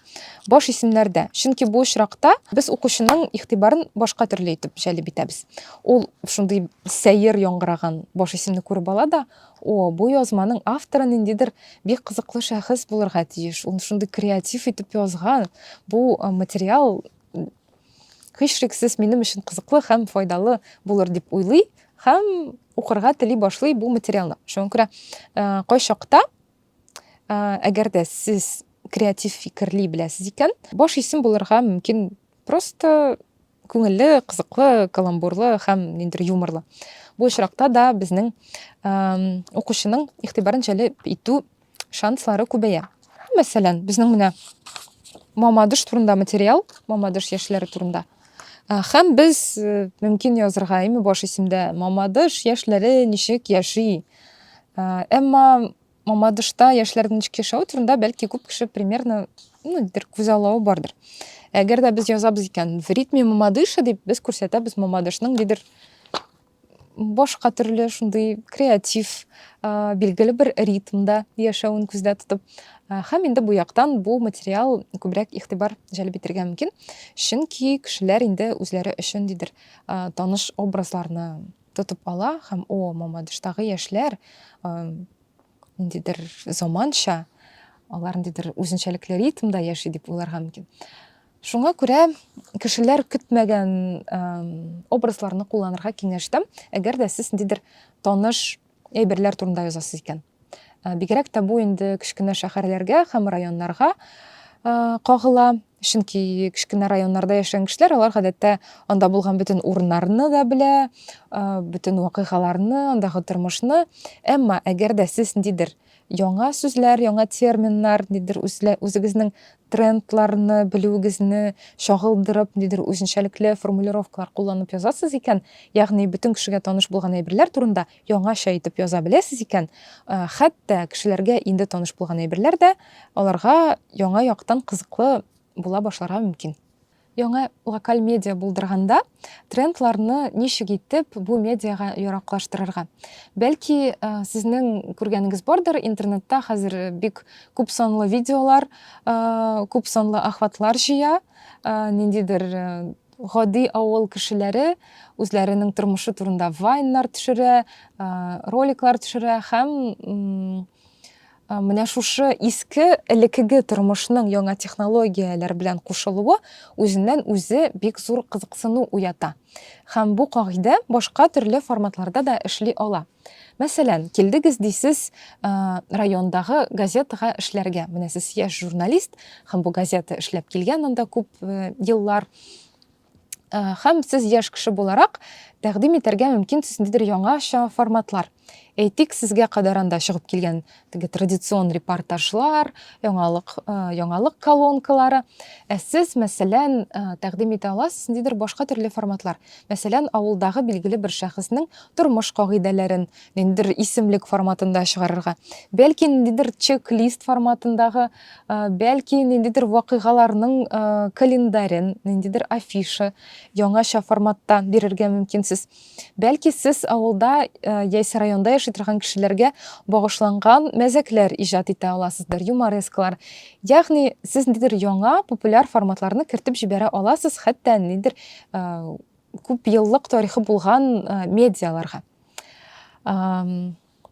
баш исемнәрдә. Чөнки бу очракта без укучының игътибарын башка төрле итеп җәлеп итәбез. Ул шундый сәер яңгыраган баш исемне күреп ала да, о, бу язманың авторы ниндидер бик кызыклы шәхес булырга тиеш. Ул шундый креатив итеп язган. Бу материал һичшиксез минем өчен кызыклы һәм файдалы булыр дип уйлый һәм укырга тели башлый бу материалны шуңа күрә э, кайчакта э, әгәр дә сез креатив фикерли беләсез икән баш исем булырга мөмкин просто күңелле кызыклы каламбурлы һәм ниндидер юморлы бу очракта да безнең э, укучының игътибарын җәлеп итү шанслары күбәя. Мәсәлән, безнең менә Мамадыш турында материал, Мамадыш яшьләре турында. Э, һәм без э, мөмкин язырга име баш исемдә Мамадыш яшьләре ничек яши. Э, әмма Мамадышта яшьләрнең ничек яшәве турында бәлки күп кеше примерно ну, дер күзаллавы бардыр. Әгәр дә без язабыз икән, в ритме Мамадыша дип без күрсәтәбез Мамадышның дидер башка төрле шундый креатив, билгеле бер ритмда яшәвен күздә тотып, һәм инде бу яктан бу материал күбрәк игътибар җәлеп итәргә мөмкин, чөнки кешеләр инде үзләре өчен дидер таныш образларны тотып ала һәм о, Мамадыштагы яшьләр ниндидер заманча, алар ниндидер үзенчәлекле ритмда яши дип уйларга мөмкин. Шуңа күрә кешеләр көтмәгән образларны кулланырга киңәш итәм, әгәр дә сез ниндидер таныш әйберләр турында язасыз икән. Бигрәк тә бу инде кечкенә шәһәрләргә һәм районнарга кагыла. Чөнки кечкенә районнарда яшәгән кешеләр, алар гадәттә анда булган бөтен урыннарны да белә, бөтен вакыйгаларны, андагы тормышны. Әмма әгәр дә сез ниндидер яңа сүзләр, яңа терминнар, ниндидер үзегезнең трендларны белүегезне чагылдырып, ниндидер үзенчәлекле формулировкалар кулланып язасыз икән, ягъни бөтен кешегә таныш булган әйберләр турында яңача итеп яза беләсез икән, хәтта кешеләргә инде таныш булган әйберләр дә аларга яңа яктан кызыклы була башларга мөмкин. Яңа локаль медиа булдырганда, трендларны ничек итеп бу медиага яраклаштырырга? Бәлки, сезнең күргәнегез бардыр, интернетта хәзер бик күп санлы видеолар, күп санлы охватлар җыя, ниндидер Гади авыл кешеләре үзләренең тормышы турында вайннар төшерә, роликлар төшерә һәм менә шушы иске элекеге тормышның яңа технологияләр белән кушылуы үзеннән үзе бик зур кызыксыну уята. Һәм бу кагыйдә башка төрле форматларда да эшли ала. Мәсәлән, килдегез дисез райондагы газетага эшләргә. Менә сез яшь журналист һәм бу газета эшләп килгән анда күп еллар. Һәм сез яшь кеше буларак тәкъдим итәргә мөмкинсез ниндидер яңача форматлар. Әйтик, сезгә кадәр анда чыгып килгән теге традицион репортажлар, яңалык, э, яңалык колонкалары. Ә сез, мәсәлән, э, тәкъдим итә аласыз ниндидер башка төрле форматлар. Мәсәлән, авылдагы билгеле бер шәхеснең тормыш кагыйдәләрен ниндидер исемлек форматында чыгарырга. Бәлки ниндидер чек-лист форматындагы, э, бәлки ниндидер вакыйгаларның календарен, ниндидер афиша яңаша форматта бирергә мөмкинсез. Бәлки сез авылда яисә районда яши торган кешеләргә багышланган мәзәкләр иҗат итә аласыздыр, юморескалар. Ягъни сез нидер яңа популяр форматларны кертеп җибәрә аласыз, хәтта нидер күп еллык тарихы булган медиаларга.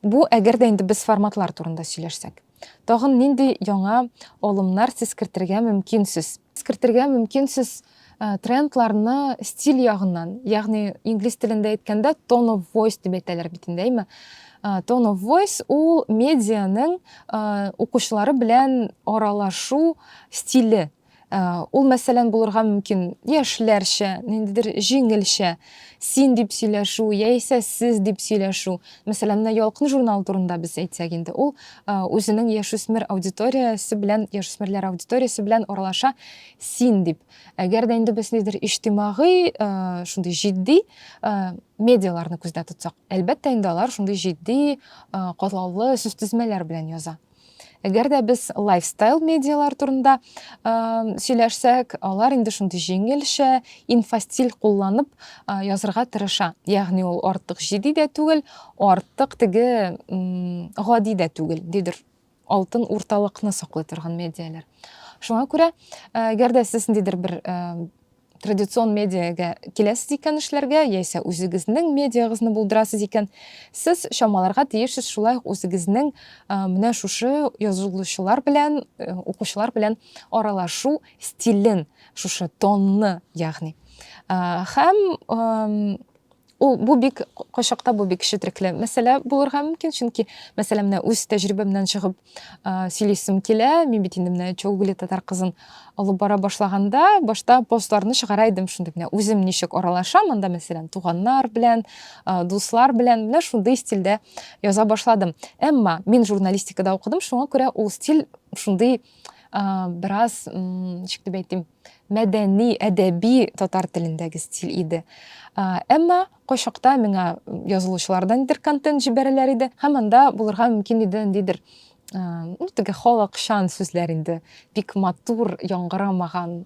Бу әгәр дә инде без форматлар турында сөйләшсәк. Тагын нинди яңа алымнар сез кертергә мөмкин сез? Кертергә мөмкин сез трендларны стиль ягыннан, ягъни инглиз телендә әйткәндә tone of voice дип әйтәләр бит инде, әйме? Tone of voice ул медианың укучылары белән аралашу стиле. Ә, Ул, мәсәлән, булырга мөмкин яшьләрчә, ниндидер җиңелчә син дип сөйләшү яисә сез дип сөйләшү. Мәсәлән, менә Ялкын журналы турында без әйтсәк инде, ул ә, үзенең яшүсмер аудиториясе белән, яшүсмерләр аудиториясе белән аралаша син дип. Әгәр дә инде без ниндидер иҗтимагый, ә, шундый җитди ә, медиаларны күздә тотсак, әлбәттә инде алар шундый җитди, ә, катлаулы сүзтезмәләр белән яза. Әгәр дә без лайфстайл медиалар турында сөйләшсәк, алар инде шундый җиңелчә, инфостиль кулланып язырга тырыша. Ягъни ул артык җитди дә түгел, артык теге гади дә түгел, дидер алтын урталыкны саклый торган медиалар. Шуңа күрә, әгәр дә сез ниндидер бер традицион медиага киләсез икән эшләргә, яисә үзегезнең медиагызны булдырасыз икән, сез чамаларга тиешсез шулай ук үзегезнең менә шушы язылучылар белән, укучылар белән аралашу стилен, шушы тонны, ягъни. Һәм Ул бу бик кайчакта бу бик четрекле мәсьәлә булырга мөмкин, чөнки мәсәлән менә үз тәҗрибәмнән чыгып сөйлисем килә. Мин бит инде менә Чолгули татар кызын алып бара башлаганда, башта постларны чыгара идем шундый менә үзем ничек аралашам, анда мәсәлән туганнар белән, дуслар белән менә шундый стильдә яза башладым. Әмма мин журналистикада укыдым, шуңа күрә ул стиль шундый бераз, ничек дип әйтим, мәдәни, әдәби татар телендәге стиль иде. Әмма кайчакта миңа язылучылардан нидер контент җибәрәләр иде һәм анда булырга мөмкин иде ниндидер ну теге халыкчан сүзләр инде бик матур яңгырамаган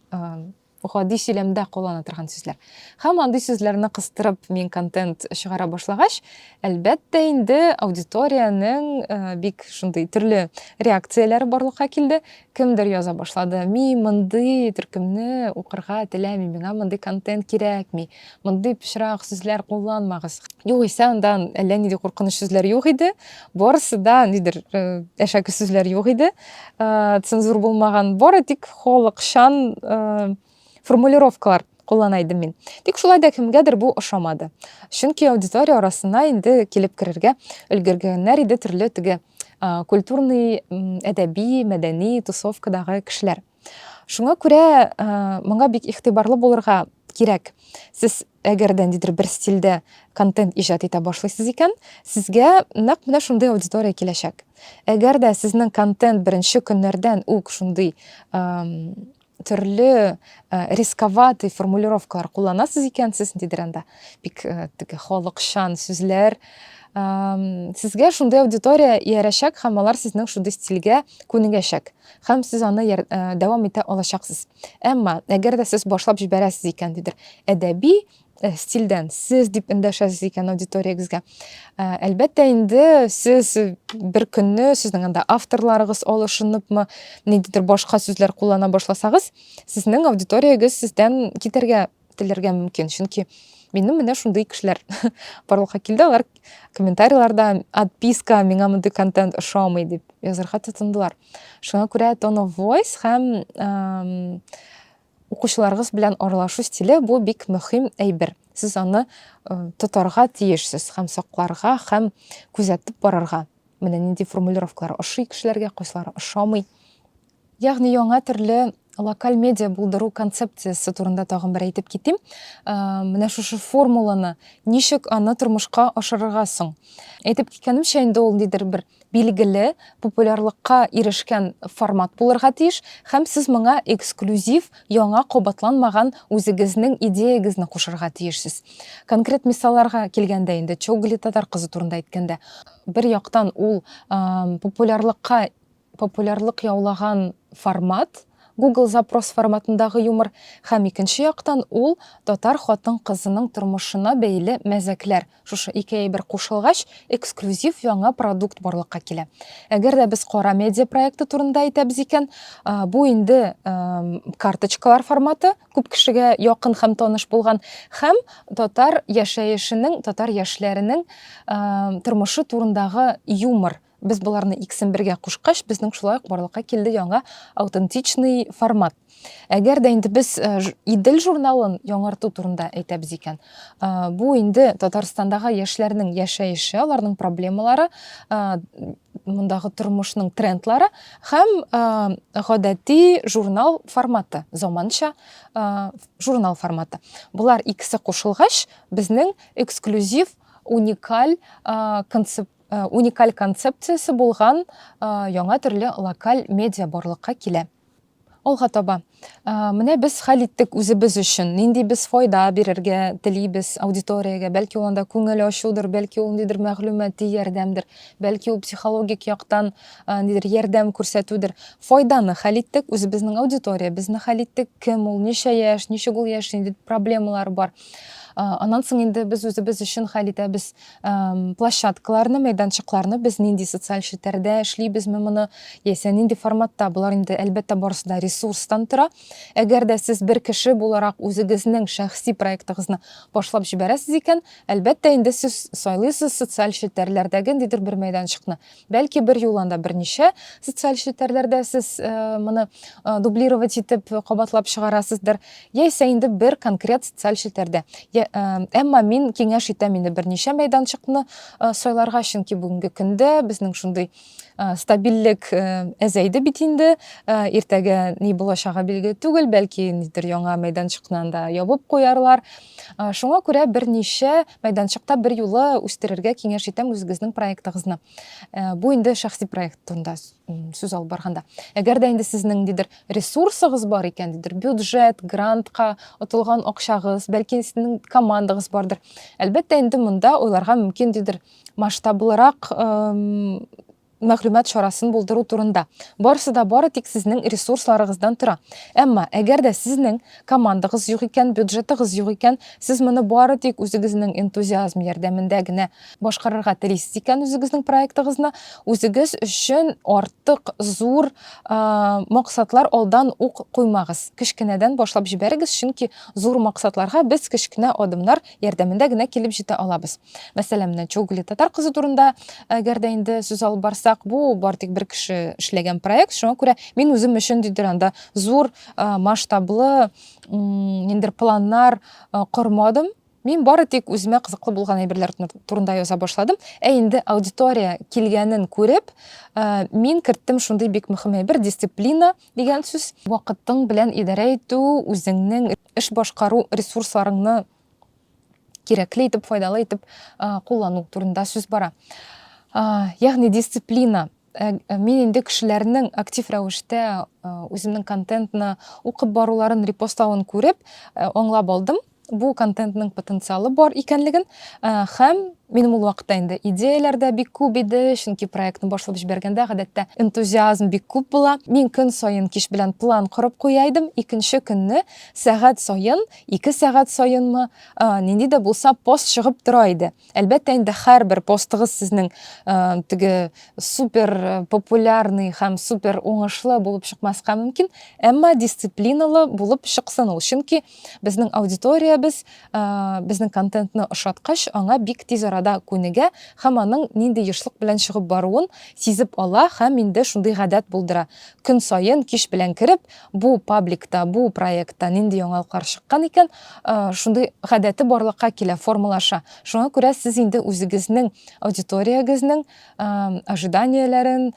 гади сөйләмдә куллана торган сүзләр һәм андый сүзләрне кыстырып мин контент чыгара башлагач әлбәттә инде аудиториянең бик шундый төрле реакцияләре барлыкка килде Кемдер яза башлады, Мин мондый төркемне укырга теләмим, миңа мондый контент кирәкми, мондый пычрак сүзләр кулланмагыз. Югыйсә анда әллә нинди куркыныч сүзләр юк иде, барысы да нидер әшәке сүзләр юк иде, цензур булмаган, бары тик халыкчан формулировкалар куллана идем мин. Тик шулай да кемгәдер бу ошамады. Чөнки аудитория арасына инде килеп керергә өлгергәннәр иде төрле теге культурный, әдәби, мәдәни тусовкадагы кешеләр. Шуңа күрә моңа бик игътибарлы булырга кирәк. Сез әгәр дә ниндидер бер стильдә контент иҗат итә башлыйсыз икән, сезгә нәкъ менә шундый аудитория киләчәк. Әгәр дә сезнең контент беренче көннәрдән үк шундый төрле э, рисковатый формулировкалар кулланасыз икәнсез ниндидер анда бик э, теге халыкчан сүзләр сезгә шундый аудитория иярәчәк һәм алар сезнең шундый стильгә күнегәчәк һәм сез аны э, дәвам итә алачаксыз әмма әгәр дә сез башлап җибәрәсез икән дидер әдәби Э, стильдән сез дип эндәшәсез икән аудиториягезгә э, әлбәттә инде сез бер көнне сезнең анда авторларыгыз алышыныпмы ниндидер башка сүзләр куллана башласагыз сезнең аудиториягез сездән китәргә теләргә мөмкин чөнки минем менә шундый кешеләр барлыкка килде алар комментарийларда отписка миңа мондый контент ошамый дип язырга тотындылар шуңа күрә тон оф войс һәм Укучыларыгыз белән аралашу стиле бу бик мөһим әйбер. Сез аны тотарга тиешсез һәм сакларга һәм күзәтеп барырга. Менә нинди формулировкалар ошый кешеләргә, кайсылары ошамый. Ягъни яңа төрле локаль медиа булдыру концепциясе турында тагын бер әйтеп китим. Менә шушы формуланы ничек аны тормышка ашырырга соң? Әйтеп киткәнемчә, инде ул нидер бер билгеле, популярлыкка ирешкән формат булырга тиеш һәм сез моңа эксклюзив, яңа кабатланмаган үзегезнең идеягезне кушырга тиешсез. Конкрет мисалларга килгәндә инде, Чогли татар кызы турында әйткәндә, бер яктан ул популярлыкка популярлык яулаган формат, Google запрос форматындагы юмор һәм икенче яктан ул татар хатын-кызының тормышына бәйле мәзәкләр, Шушы ике әйбер кушылгач, эксклюзив яңа продукт барлыкка килә. Әгәр дә без Кара медиа проекты турында әйтәбез икән, бу инде карточкалар форматы, күп кешегә якын һәм таныш булган һәм татар яшәешенең, татар яшьләренең тормышы турындагы юмор Без боларны икесен бергә кушкач, безнең шулай ук барлыкка килде яңа аутентичный формат. Әгәр дә инде без э, Идел журналын яңарту турында әйтәбез икән, э, бу инде Татарстандагы яшьләрнең яшәеше, аларның проблемалары, э, мондагы тормышның трендлары һәм гадәти журнал форматы, заманча журнал форматы. Болар икесе кушылгач, безнең эксклюзив, уникаль концепт Э, уникаль концепциясе булган э, яңа төрле локаль медиа барлыкка килә алга таба э, менә без хәл иттек үзебез өчен нинди без файда бирергә телибез аудиториягә бәлки ул анда күңел ачудыр бәлки ул ниндидер мәгълүмати ярдәмдер бәлки ул психологик яктан нидер ярдәм күрсәтүдер файданы хәл иттек үзебезнең аудиториябезне хәл иттек кем ул ничә яшь ничек ул яшь нинди проблемалар бар аннан соң инде без үзебез өчен хәл итәбез площадкаларны мәйданчыкларны без нинди социаль челтәрдә эшлибезме моны яисә нинди форматта болар инде әлбәттә барысы да ресурстан тора әгәр дә сез бер кеше буларак үзегезнең шәхси проектыгызны башлап җибәрәсез икән әлбәттә инде сез сайлыйсыз социаль челтәрләрдәге ниндидер бер мәйданчыкны Бәлки бер юл анда берничә социаль челтәрләрдә сез моны дублировать итеп кабатлап чыгарасыздыр, яисә инде бер конкрет социаль челтәрдә. Әмма мин киңәш итәм инде берничә мәйданчыкны сайларга, чөнки бүгенге көндә безнең шундый стабильлек әзәйде бит инде. Иртәгә ни булачагы билгеле түгел, бәлки ниндидер яңа мәйданчыкны анда ябып куярлар. Шуңа күрә берничә Мәйданчыкта бер юлы үстерергә киңәш итәм үзегезнең проектыгызны. Э, бу инде шәхси проект турында сүз алып барганда. Әгәр дә инде сезнең дидер ресурсыгыз бар икән, дидер бюджет, грантка отылган акчагыз, бәлки сезнең командагыз бардыр. Әлбәттә, инде монда уйларга мөмкин дидер масштаблырак мәгълүмат чарасын булдыру турында. Барысы да бары тик сезнең ресурсларыгыздан тора. Әмма, әгәр дә сезнең командагыз юк икән, бюджетыгыз юк икән, сез моны бары тик үзегезнең энтузиазм ярдәмендә генә башкарырга телисез икән үзегезнең проектыгызны, үзегез өчен артык зур максатлар алдан ук куймагыз. Кечкенәдән башлап җибәрегез, чөнки зур максатларга без кечкенә адымнар ярдәмендә генә килеп җитә алабыз. Мәсәлән, менә Чогле татар кызы турында, әгәр дә инде сүз алып барсак, бу бар тик бер кеше эшләгән проект, шуңа күрә мин үзем өчен дидер анда зур масштаблы ниндер планнар кормадым. Мин бары тик үземә кызыклы булган әйберләр турында яза башладым. Ә инде аудитория килгәнен күреп, мин керттем шундый бик мөһим әйбер дисциплина дигән сүз. Вакытың белән идарә итү, үзеңнең эш башкару ресурсларыңны кирәкле итеп файдалы итеп куллану турында сүз бара ягъни дисциплина Э, э, мин инде кешеләрнең актив рәвештә э, үземнең контентны укып баруларын репостлавын күреп аңлап алдым бу контентның потенциалы бар икәнлеген һәм минем ул вакытта инде идеяләр дә бик күп иде чөнки проектны башлап җибәргәндә гадәттә энтузиазм бик күп була мин көн саен кич белән план корып куя идем икенче көнне сәгать саен Ике сәгать саенмы, нинди дә булса пост чыгып тора иде. Әлбәттә инде һәрбер постыгыз сезнең теге супер популярный һәм супер уңышлы булып чыкмаска мөмкин, әмма дисциплиналы булып чыксын ул. Чөнки безнең аудиториябез безнең контентны ошаткач, аңа бик тиз арада күнегә һәм аның нинди ешлык белән чыгып баруын сизеп ала һәм инде шундый гадәт булдыра. Көн саен кич белән кереп, Бу пабликта, бу проектта нинди яңалыклар чыккан икән, шундый гадәте барлыкка килә, формалаша. Шуңа күрә сез инде үзегезнең аудиториягезнең ожиданияләрен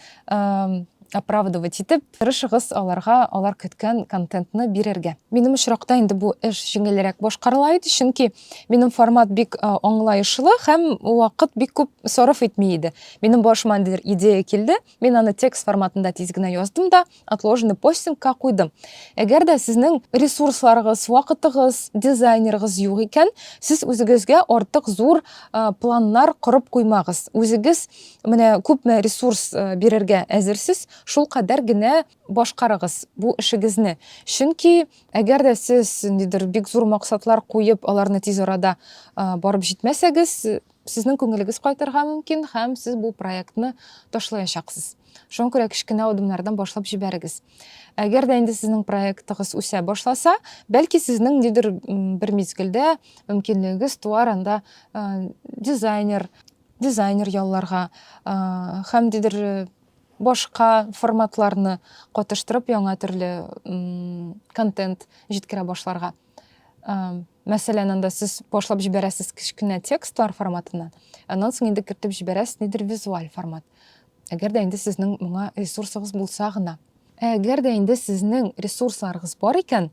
оправдывать итеп, тырышыгыз аларга алар көткән контентны бирергә. Минем очракта инде бу эш җиңелрәк башкарыла иде, чөнки минем формат бик аңлаешлы һәм вакыт бик күп сарыф итми иде. Минем башыма ниндидер идея килде, Мин аны текст форматында тиз генә яздым да, отложенный постингка куйдым. Әгәр дә сезнең ресурсларыгыз, вакытыгыз, дизайнерыгыз юк икән, сез үзегезгә артык зур планнар корып куймагыз. Үзегез менә күпме ресурс бирергә әзерсез, шул кадәр генә башкарыгыз бу эшегезне. Чөнки әгәр дә сез ниндидер бик зур максатлар куеп, аларны тиз арада барып җитмәсәгез, Сезнең күңелегез кайтырга мөмкин һәм сез бу проектны ташлаячаксыз. Шуңа күрә кечкенә адымнардан башлап җибәрегез. Әгәр дә инде сезнең проектыгыз үсә башласа, бәлки сезнең нидер бер мизгелдә мөмкинлегегез туар анда дизайнер, дизайнер ялларга һәм дидер башка форматларны катыштырып яңа төрле контент җиткерә башларга. мәсәлән анда сез башлап җибәрәсез кечкенә текстлар форматыннан аннан соң инде кертеп җибәрәсез нидер визуаль формат әгәр дә инде сезнең моңа ресурсыгыз булса гына әгәр дә инде сезнең ресурсларыгыз бар икән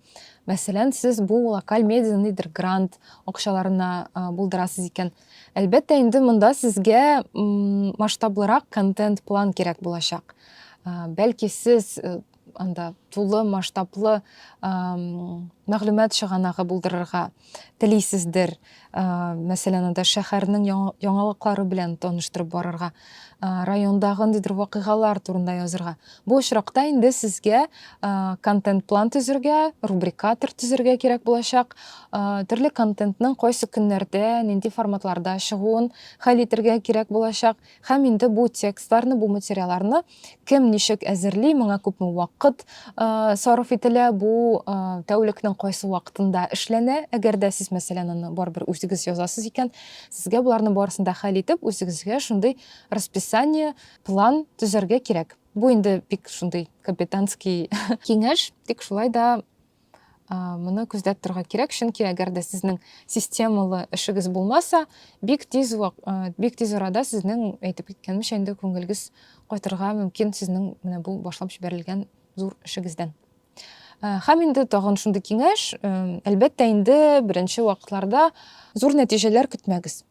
мәсәлән сез бу локаль медиа нидер грант акчаларына булдырасыз икән әлбәттә инде монда сезгә масштаблырак контент план кирәк булачак бәлки сез э, анда тулы масштаблы мәгълүмат чыганагы булдырырга телисездер мәсәлән анда шәһәрнең яңалыклары белән таныштырып барырга райондагы ниндидер вакыйгалар турында язырга бу очракта инде сезгә контент план төзергә рубрикатор төзергә кирәк булачак төрле контентның кайсы көннәрдә нинди форматларда чыгуын хәл итәргә кирәк булачак Һәм инде бу текстларны, бу материаларны кем ничек әзерли, моңа күпме вакыт сарыф ителә, бу тәүлекнең кайсы вакытында эшләнә, әгәр дә сез, мәсәлән, аны барыбер үзегез язасыз икән, сезгә боларны барысын да хәл итеп, үзегезгә шундый расписание, план төзәргә кирәк. Бу инде бик шундый капитанский киңәш, тик шулай да моны күздә торга кирәк чөнки әгәр дә сезнең системалы эшегез булмаса бик тиз бик тиз арада сезнең әйтеп киткәнемчә инде күңелегез кайтырга мөмкин сезнең менә бу башлап җибәрелгән зур эшегездән һәм инде тагын шундый киңәш әлбәттә инде беренче вакытларда зур нәтиҗәләр көтмәгез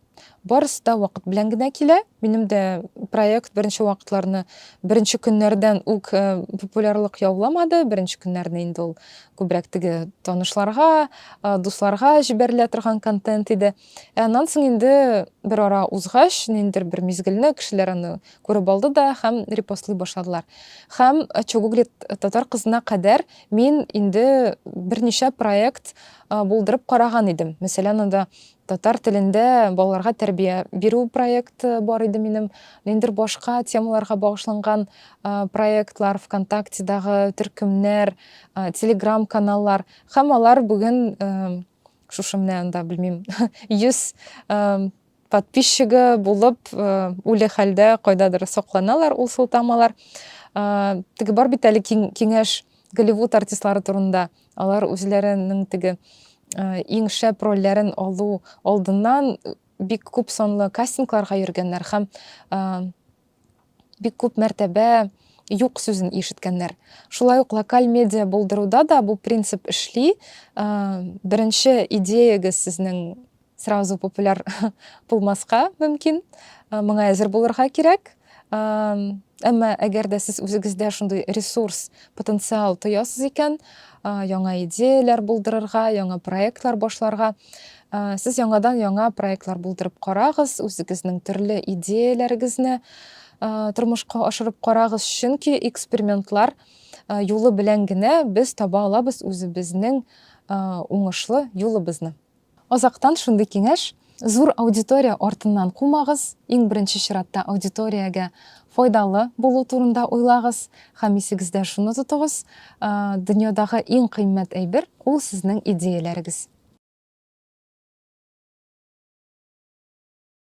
Барысы да вакыт белән генә килә. Минем дә проект беренче вакытларны, беренче көннәрдән үк э, популярлык яуламады. Беренче көннәрне инде ул күбрәк теге танышларга, э, дусларга җибәрелә торган контент иде. Ә аннан соң инде бер ара узгач, ниндер бер мизгелне кешеләр аны күреп алды да һәм репостлый башладылар. Һәм э, Чогуглит татар кызына кадәр мин инде берничә проект э, булдырып караган идем. Мәсәлән, анда Татар телендә балаларга тәрбия бирү проекты бар иде минем. Ниндер башка темаларга багышланган проектлар, ВКонтактедагы төркемнәр, Телеграм каналлар. Һәм алар бүген шушы менә анда, белмим, 100 подписчигы булып, үле хәлдә кайдадыр сакланалар ул сылтамалар. Теге бар бит әле киңәш Голливуд артистлары турында. Алар үзләренең теге иң шәп рольләрен алу алдыннан бик күп санлы кастингларга йөргәннәр һәм бик күп мәртәбә юк сүзен ишеткәннәр. Шулай ук локаль медиа булдыруда да бу принцип эшли. Беренче идеягез сезнең Сразу популяр булмаска мөмкин, моңа әзер булырга кирәк. Әмма әгәр дә сез үзегездә шундый ресурс, потенциал тоясыз икән, яңа идеяләр булдырырга, яңа проектлар башларга, сез яңадан яңа проектлар булдырып карагыз, үзегезнең төрле идеяләрегезне тормышка ашырып карагыз, чөнки экспериментлар юлы белән генә без таба алабыз үзебезнең уңышлы юлыбызны. Азактан шундый киңәш, зур аудитория артыннан кумагыз, иң беренче чиратта аудиториягә файдалы булу турында уйлагыз һәм исегездә шуны тотыгыз, дөньядагы иң кыйммәт әйбер, ул сезнең идеяләрегез.